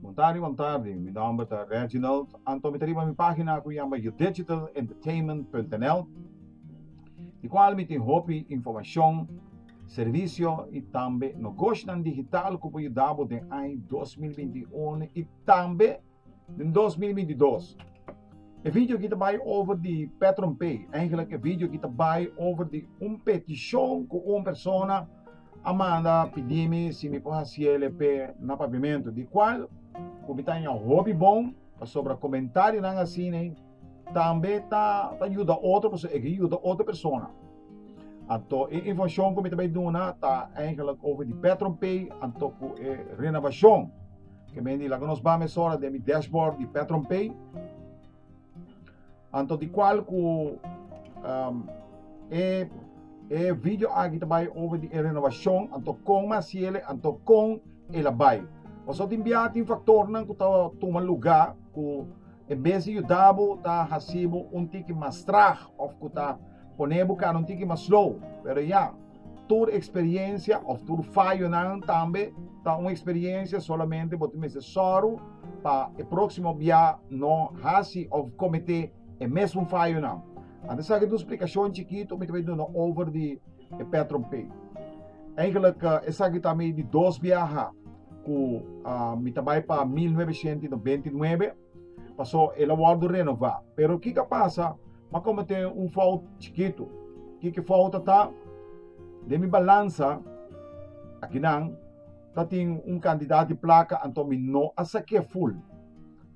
Bon tardi bon tardi mi nomber ta Reginald Anto mi ta riba mi pagina ku yama youdegitalentertainment.nl di kual mi tin hopi informashon servisio i tambe nogoshnan digital ku por yuda bo den ai dos mil binti i unu i tambe Den dos mil binti dos e video aki ta bai over di Petron Pay eigenlik e video aki ta bai over di un petishon ku un persona a manda pidi mi si mi por hasi el e pe na paviamentu di kual ku mi ta haña hopi bon pasobra komentarionan asina. Tambe ta, ta yuda otro persona, e ke yuda otro persona. Anto e informacion ku mi ta bai duna ta eigenlijk over di PetronPay anto ku e renovacion. Ke men di laga nos ba mesora den mi dashboard di PetronPay. Anto di kual ku um, e e video aki ta bai over di e renovacion anto kon mi hasiele anto kon e la bai. Paso tin biaha tin faktornan ku ta tuma luga ku E mes di yuda bo ta hasi bo un tiki mas trag of ku ta pone bo kara un tiki mas slow. Pero ya, tur eksperiencia of tur fayonan tambe ta un eksperiencia, solamente bo ta mester soru pa e proksimo bia no hasi of komete e mesun fayonan. Anto esaki dos splikashon chikito mi ta bai duna over di. e Petron Pei. Eigenlijk esaki ta mi di dos biaha ku uh, mi ta bai pa 1999, paso el a wordo renová. Pero kika pasa, ma komete un fout chikitu. Kiki fout ta? De mi balansa, akinan, ta tin un kantidat di plaka, anto mi no a sak'é ful.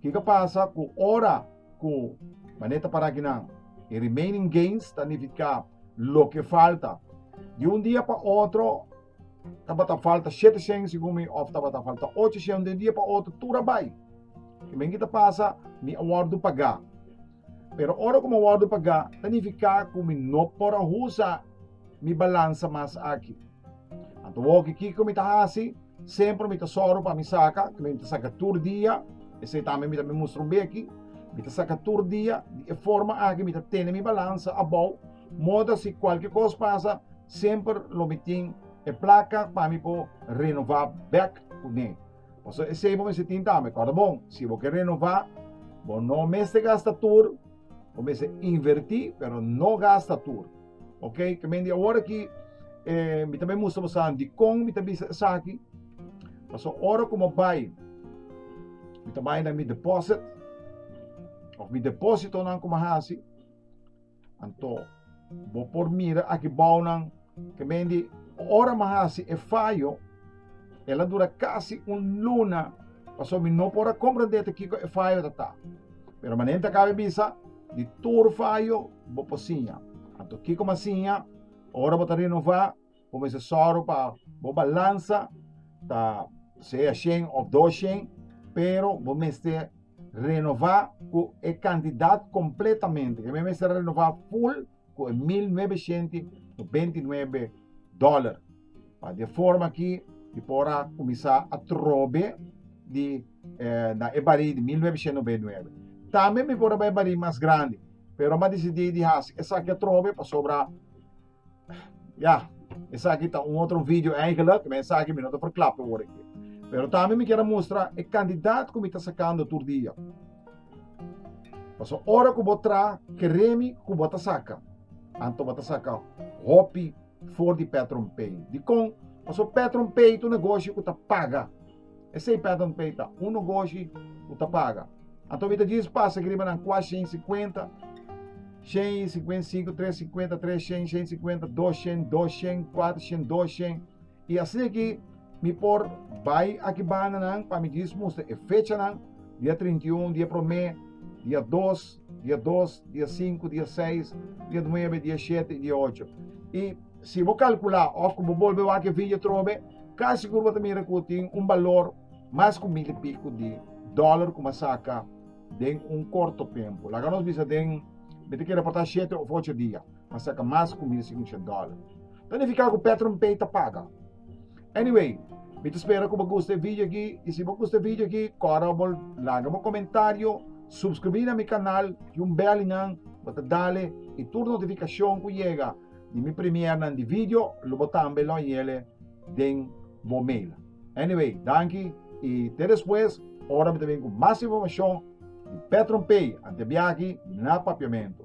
Kika pasa ku ora ku maneta para akinan, e remaining gains ta nifiká Loke falta. Di un dia pa otro tabata falta shete shen segun mi of tabata falta ocho shen de un dia pa otro tur a bai. Kimen ki ta pasa mi a wordo paga. Pero ora ku mi a wordo paga ta nifiká ku mi no por a usa mi balansa mas aki. Anto woke kiko mi ta hasi? Semper mi ta sòru pa mi saka, mi ta saka tur dia, esei tambe mi ta bin mustra un beki, mi ta saka tur dia, di e forma aki mi ta tene mi balansa abou, modo asi kualke kos pasa semper lo mi tin e plaka pa mi por renová bèk kuné. Pasobra esei bo mester tin tambe, kòrda bon, si bo ke renová, bo no mester gasta tur, bo mester invertí, pero no gasta tur. Ok, kamen di awor aki, eh, mi también musta bosan di kon mi ta bisa esaki. Paso oro como bay, mi ta bay na mi deposit, of mi deposito nan como hasi. Anto, bo por mira aki bouw nan, kamen di ora ma hasi e fallo, ela dura casi un luna, paso mi no por a comprende te kiko e fallo ta ta. Pero manen ta cabe bisa di tur fayo bo por siña. Anto kiko mas siña? Ora bo ta renova, bo mester sòru pa bo balansa ta sea shen of dos shen, pero bo mester renova cu e cantidad completamente. Bo mester renova full ku e mil nuebeshent i benti nuebe dòler. Pa de forma ki di por a kuminsá a trobe di eh, na e barí di mil nuebeshent nobenta i nuebe. Tambe mi por a bai barí mas grandi, pero mi a disidí di hasi esaki atrobe pasobra ya, esaki ta un otro video eigenlijk, men esaki mi no ta verklap awor aki. Pero tambe mi kier a mustra e kandidat ku mi ta sakando tur dia. Paso ora ku bo tra keremi ku bo ta saka, anto bo ta saka hopi for di Petron Pay. Dikon? Paso Petron Pay ta un negoshi ku ta paga. Esei Petron Pay ta, un negoshi ku ta paga. Anto mi ta djis pasa aki riba nan kua shen sikuenta, shen i sikuenta i sinku, tres sikuenta, tres shen, shen i sikuenta, dos shen, dos shen, kuater shen, dos shen. I aseki mi por bai aki bandanan pa mi djis mustra e fechanan, dia trinta i un, dia promé, dia dos, dia dos, dia sinku, dia seis, dia nuebe, dia shete i dia ocho. I si bo kalkulá òf ku bo bolbe wak e video trobe, kasi sigur bo ta mira ku tin un balor mas ku mil i piku di dòler ku mi a saka den un korto tempu. Laga nos bisa den, mi ta kere por ta shete òf ocho dia. a saka mas kumida si ucha dòla. Ta nifiká ku Petronpay ta paga. Anyway, mi ta spera ku bo gusta e video aki i si bo gusta e video aki kòrda pa bo laga bo komentario, supskribí na mi kanal, tin un bèl einan bo ta dale i tur notifikashon ku yega di mi premiernan di video lo bo tambe lo hayele den bo mail. Anyway, danki i te despues ora mi ta bini ku mas informashon di Petronpay. Ante biaha aki na Papiamentu.